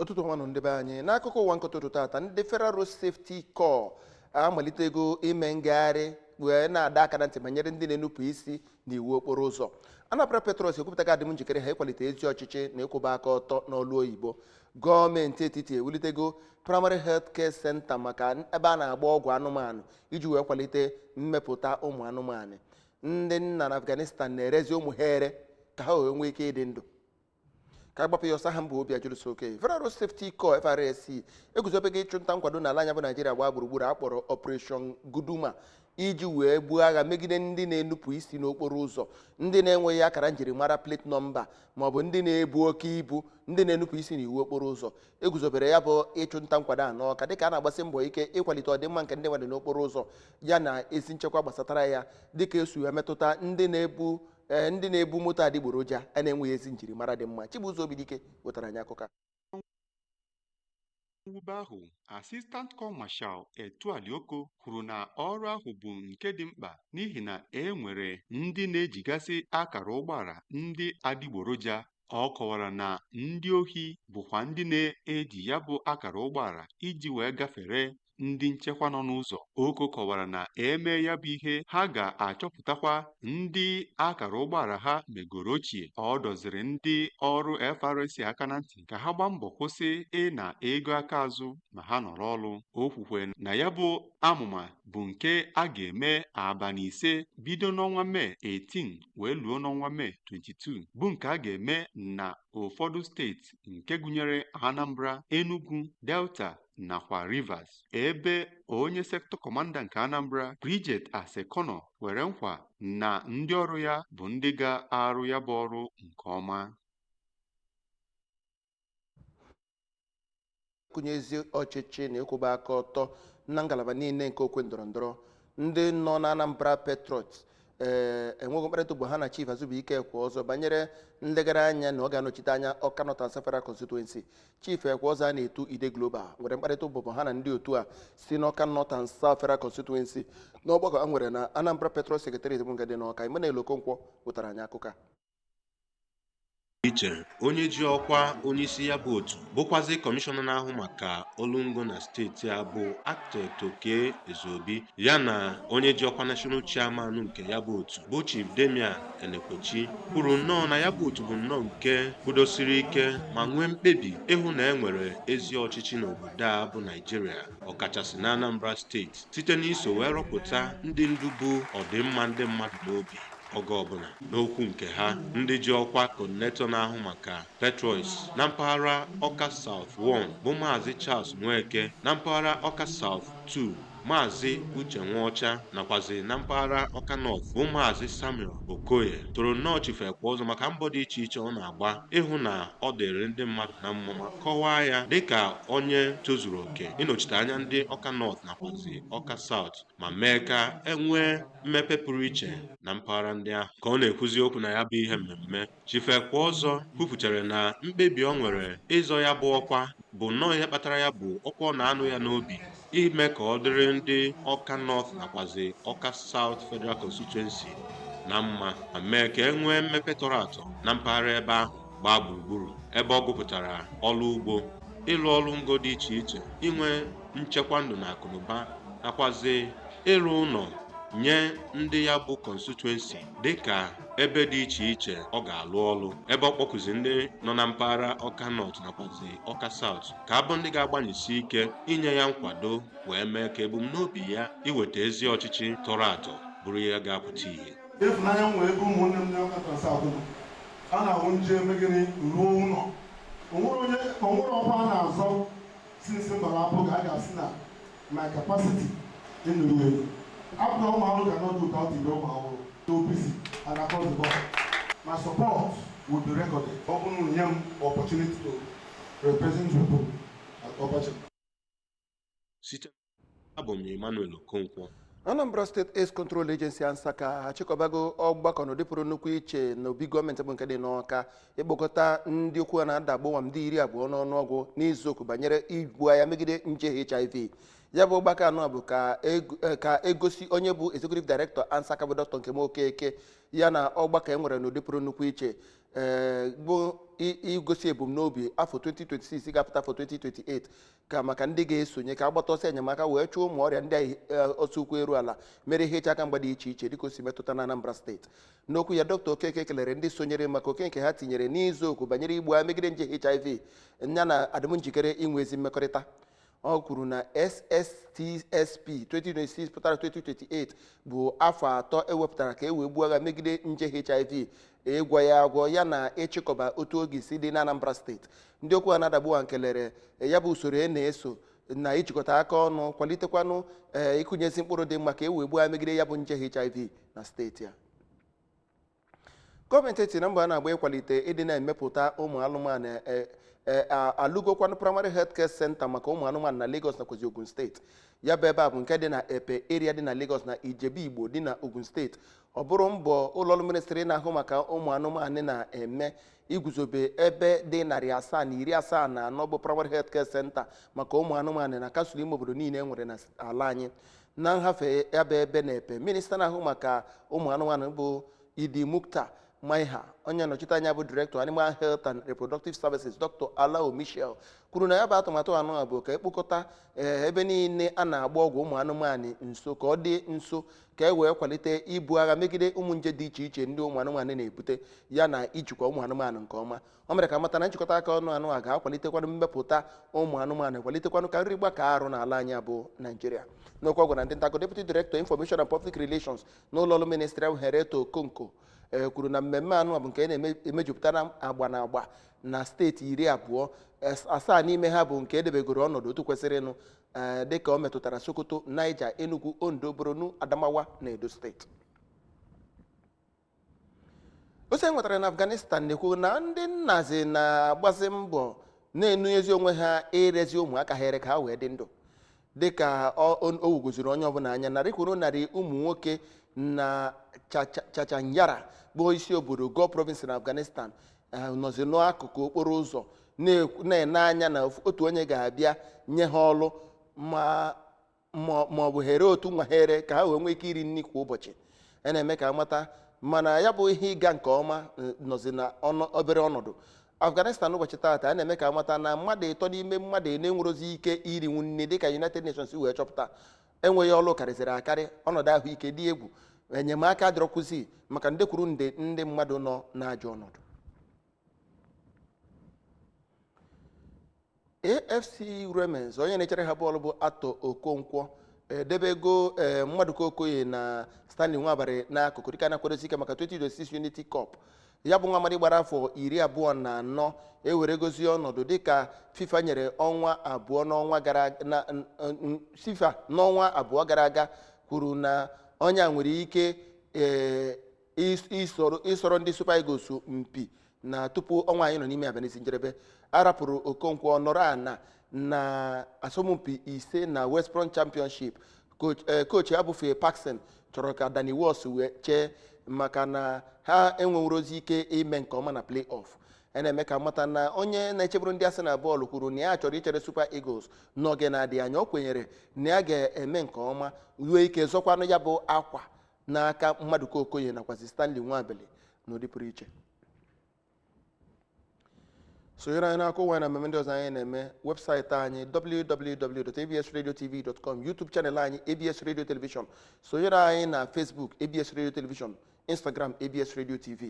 ụtụtụ ọma nụ ndị be anyị n'akụkọ ụwa nke ụtụtụ tata ndị Federal Road Safety Corps amalitego ime ngagharị wee na-adọ aka na ntị banyere ndị na-enupụ isi na iwu okporo ụzọ Anambra Patriots ekwupụtago adịm njikere ha ịkwalite ezi ọchịchị na ịkwụba aka ọtọ n'ọlụ oyibo gọọmenti etiti ewulitego Primary Health Care Center maka ebe a na-agba ọgwụ anụmanụ iji wee kwalite mmepụta ụmụ anụmanụ ndị nna na afghanistan na-erezi ụmụ ha ere ka ha wee nwee ike ịdị ndụ ka a gbapụ ya ọsọ aha m bụ Obiajụlụ Soke federal road safety corps frsc eguzobego ịchụ nta nkwado n'ala anyị a bụ naijiria gbaa gburugburu a kpọrọ operation guduma iji wee buo agha megide ndị na-enupụ isi n'okporo ụzọ ndị na-enweghị akara njirimara plate nọmba maọbụ ndị na-ebu oke ibu ndị na-enupụ isi n'iwu okporo ụzọ e guzobere ya bụ ịchụ nta nkwado a n'Ọka dịka a na-agbasi mbọ ike ịkwalite ọdịmma nke ndị mmadụ n'okporo ụzọ ya na ezi nchekwa gbasatara ya dịka o si emetụta ndị ee, ndị na-ebu moto adịgboroja a na-enweghị ezi njirimara dị mma Chibuzo Obidike wetara anyị akụkọ a. mwube ahụ Assistant Corps Marshal Etuali Oko kwuru na ọrụ ahụ bụ nke dị mkpa n'ihi na e nwere ndị na-ejigasị akara ụgbọala ndị adịgboroja Ọ kọwara na ndị ohi bụkwa ndị na-eji ya bụ akara ụgbọala iji wee gafere ndị nchekwa nọ n'ụzọ. Oko kọwara na e mee ya bụ ihe ha ga-achọpụtakwa ndị akara ụgbọala ha megoro ochie. Ọ dọziri ndị ọrụ FRSC aka na ntị ka ha gbaa mbọ kwụsị ịna ego aka azụ ma ha nọrọ ọrụ. O kwukwe na ya bụ amụma bụ nke a ga-eme abalị ise bido n'ọnwa Mee 18 wee luo n'ọnwa Mee 22 bụ nke a ga-eme na ụfọdụ steeti nke gụnyere Anambra, Enugu, Delta nakwa Rivers ebe onye sektọ kọmanda nke Anambra Bridget Asekhauno kwere nkwa na ndị ọrụ ya bụ ndị ga-arụ ya bụ ọrụ nke ọma kụnye ezi ọchịchị na ịkwụba aka ọtọ na ngalaba niile nke okwe ndọrọ ndọrọ ndị nọ na Anambra Patriots enwego mkparịta ụbụbọ ha na Chief Azubuike Ekweozor banyere nlegara anya na ọ ga-anọchite anya Ọka North and South Federal Constituency Chief Ekweozor a na-etu Ide Global nwere mkparịta ụbụbọ ha na ndị otu a si n'Ọka North and South Federal Constituency n'ọgbakọ e nwere na Anambra Patriots Secretariat bụ nke dị n'Ọka Emmanuel Okonkwo wetara anyị akụkọ a iche onye ji ọkwa onyeisi ya bụ otu bụkwazi kọmishọna na-ahụ maka ọlụ ngo na steeti a bụ Architect Okey Ezeobi ya na onye ji ọkwa national chairman nke ya bụ otu bụ Chief Damian Enekwechi kwuru nnọọ na ya bụ otu bụ nnọọ nke kwudosiri ike ma nwee mkpebi ịhụ na e nwere ezi ọchịchị n'obodo a bụ Naijiria ọkachasị na Anambra steeti site n'iso wee rọpụta ndị ndu bu ọdịmma ndị mmadụ n'obi oge ọbụla. N'okwu nke ha, ndị ji ọkwa coordinator na-ahụ maka Petrois na mpaghara Ọka South 1 bụ Maazị Charles Nweke, na mpaghara Ọka South 2 Maazị Uche Nwaọcha nakwazi na mpaghara Ọka North bụ Maazị Samuel Okoye toro nnọọ Chief Ekweọzọ maka mbọ dị iche iche ọ na-agba ịhụ na ọ dịrị ndị mmadụ na mma ma kọwaa ya dịka onye tozuru oke ịnọchite anya ndị Ọka North nakwazi Ọka South. ma mee ka e nwee mmepe pụrụ iche na mpaghara ndị ahụ ka ọ na-ekwuzi okwu na ya bụ ihe mmemme Chief Ekweọzọ kwupụtara na mkpebi ọ nwere ịzọ ya bụ ọkwa bụ nnọọ ihe kpatara ya bụ ọkụ ọ na-anụ ya n'obi ime ka ọ dịrị ndị Ọka North nakwazi Ọka South Federal Constituency na mma ma mee ka e nwee mmepe tọrọ atọ na mpaghara ebe ahụ gbaa gburugburu ebe ọ gụpụtara ọrụ ugbo ịlụ ọrụ ngo dị iche iche inwe nchekwa ndụ na akụnụba nakwazi ịrụ ụlọ nye ndị ya bụ constituency dịka ebe dị iche iche ọ ga-alụ ọlụ ebe ọ kpọkụzi ndị nọ na mpaghara Ọka North nakwazi Ọka South ka ha bụ ndị ga-agbanyesi ike inye ya nkwado wee mee ka ebumnobi ya iweta ezi ọchịchị tọrọ atọ bụrụ ihe ga-apụta ihe ịfụnanya m nwere ebe ụmụnne m na Ọka South a na-ahụ nje eme gịnị ruo ụlọ o nwere ọkwa a na-azọ since m gbara abụ ka a ga-asị na my capacity enuru elu abụna ụmụ ahụrụ cannot do without ibe ụmụ ahụrụ so busy and across the board my support will be recorded ọ bụrụ na e nye m opportunity to represent people at ọbachi site abụ m Emmanuel Okonkwo Anambra State Aids Control Agency ANSACA achịkọbago ọgbakọ n'ụdị pụrụ nnukwu iche na obi gọọmenti bụ nke dị n'Ọka ịkpọkọta ndị okwu ha na-ada agbụwa ndị iri abụọ n'ọnụọgụ n'izuokwu banyere ibu agha megide nje HIV ya bụ ọgbakọ a nọ bụ ka eg- eh, ka e gosi onye bụ executive director ANSACA bụ Dr Nkem Okeke ya na ọgbakọ e nwere n'ụdị pụrụ nnukwu iche eh, bụ i- igosi ebumnobi afọ 2026 ga-apụta afọ 2028 ka maka ndị ga-esonye ka a gbata ọsọ enyemaka wee chụọ ụmụ ọrịa ndị ọsọ ụkwụ eru ala merie ihe iche aka mgba dị iche iche dịka o si metụta na Anambra steeti n'okwu ya dọkịta Okeke kelere ndị sonyere maka oke nke ha tinyere n'izu okwu banyere igbu agha megide nje HIV ya na adịm njikere inwe ezi mmekọrịta ọ kwuru na SSTSP 2026 pụtara 2028 bụ afọ atọ e wepụtara ka e wee gbuo agha megide nje HIV ịgwọ ya agwọ ya na ịchịkọba otu oge si dị n'Anambra steeti ndị okwu ha na-adagbu kelere ya bụ usoro e na-eso na ijikọta aka ọnụ kwalitekwanụ ee ịkụnyezi mkpụrụ dị mma ka e wee gbuo agha megide ya bụ nje HIV na steeti a gọọmenti etiri na mbọ a na-agba ịkwalite ịdị na-emepụta ụmụ anụmanụ e- e- a- alụgokwanụ primary health care center maka ụmụ anụmanụ na Lagos nakwazi Ogun steeti ya bụ ebe a bụ nke dị na Epe area dị na Lagos na Ijebu Igbo dị na Ogun steeti ọ bụrụ mbọ ụlọọrụ ministri na-ahụ maka ụmụ anụmanụ na-eme iguzobe ebe dị narị asaa na iri asaa na anọ bụ primary health care center maka ụmụ anụmanụ na kansụl ime obodo niile e nwere na ala anyị na nhafe ya bụ ebe na epe minista na-ahụ maka ụmụ anụmanụ bụ idi mukhtar maiha onye nnọchite anya bụ director animal health and reproductive services dr alao mitchell kwuru na ya bụ atụmatụ anụ a bụ ka e kpokọta ee, ebe niile a na-agba ọgwụ ụmụ anụmanụ nso ka ọ dị nso ka e wee kwalite ibu agha megide ụmụ nje dị iche iche ndị ụmụ anụmanụ na-ebute ya na ijikwa ụmụ anụmanụ nke ọma o mere ka a mata na nchịkọta aka ọnụ anụ a ga-akwalitekwanụ mmepụta ụmụ anụmanụ kwalitekwanụ ka nri gbaka arụ n'ala anyị a bụ naijiria n'okwu ọ gwara ndị nta akụkọ deputy director information and public relations na ụlọọrụ ministri ahụ henrietta okokon kwuru na mmemme anụ a bụ nke na-emejupụta na agba na agba na steeti iri abụọ asaa n'ime ha bụ nke e debegoro ọnọdụ otu kwesịrịnụ ee dịka o metụtara sokoto niger enugu ondo borno adamawa na edo steeti ozi e nwetara na afghanistan na-ekwu na ndị nnazi na-agbazi mbọ na-enunyezi onwe ha irezi ụmụaka ha ere ka ha wee dị ndụ dịka ọ- o o wugoziri onye ọbụla anya narị kwuru narị ụmụ nwoke na Chacha- chaghcharan bụ isi obodo ghor province na afghanistan ha nọzi n'akụkụ okporo ụzọ na-ekwu- na-ene anya na ofu- otu onye ga-abịa nye ha ọrụ ma ma- ma ọ bụ ha ree otu nwa ha ere ka ha wee nwee ike iri nri kwa ụbọchị a na-eme ka a mata mana ya bụ ihe ịga nke ọma eh, nọzi na ọnọ- obere ọnọdụ afghanistan ụbọchị taata a na-eme ka a mata na mmadụ ịtọ n'ime mmadụ ịnọ enwerozi ike irinwu nri dịka united nations wee chọpụta enweghị ọrụ karịzịrị akarị ọnọdụ ahụike dị egwu enyemaka adịrọkwụzi maka nde kwuru nde ndị mmadụ nọ n'ajọ ọnọdụ afc wrexham onye na-echere ha bọọlụ bụ arthur okonkwo edebego ee maduka okoye na stanley nwabali n'akụkụ dịka a na-akwadosi ike maka 2026 unity cup ya bụ nwa amadi gbara afọ iri abụọ na anọ eweregozi ọnọdụ dịka fifa nyere ọnwa abụọ n'ọnwa gara na n- n- fifa n'ọnwa abụọ gara aga kwuru na onye a nwere ike ee, ịs- ịsọrọ ịsọrọ ndị super eagles mpi na tupu ọnwa anyị nọ n'ime abịa n'isi njedebe a rapụrụ okonkwo ọ nọrọ ana na asọmpi ise na west brom championship Coach- eh, coach ya bụ Phil Parkinson chọrọ ka Danny Ward wee chee maka na ha enwerozi ike ime nke ọma na play-off a na-eme ka a mata na onye na-echeburu ndị Arsenal bọọlụ kwuru na ya chọrọ ichere Super Eagles n'oge na-adịghị anya o kwenyere na ya ga-eme nke ọma nwee ike zọkwanụ ya bụ akwa n'aka Maduka Okoye nakwazi Stanley Nwabali n'ụdị pụrụ iche sonyere anyị n'akụkọ ụwa na mmemme ndị ọzọ anyị na-eme website anyị www.absradiotv.com youtube channel anyị abs radio television sonyere anyị na facebook abs radio television instagram abs radio tv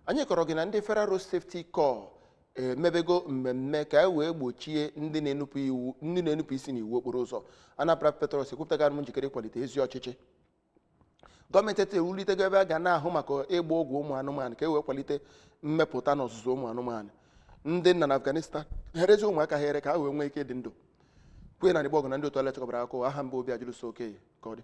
anyị kọrọ gị na ndị federal road safety corps emebego mmemme ka e wee gbochie ndị na-enupụ isi n'iwu okporo ụzọ anambra patriots ekwupụtago njikere ịkwalite ezi ọchịchị gọọmenti etiti ewulitego ebe a ga na-ahụ maka ịgba ọgwụ ụmụ anụmanụ ka e wee kwalite mmepụta na ọzụzụ ụmụ anụmanụ ndị nna na afghanistan na-erezi ụmụaka ha ere ka ha wee nwee ike dị ndụ queen anigbogu na ndị otu ọlụ ya chịkọbara akụkọ aha m bụ obiajụlụso okoye ka ọ dị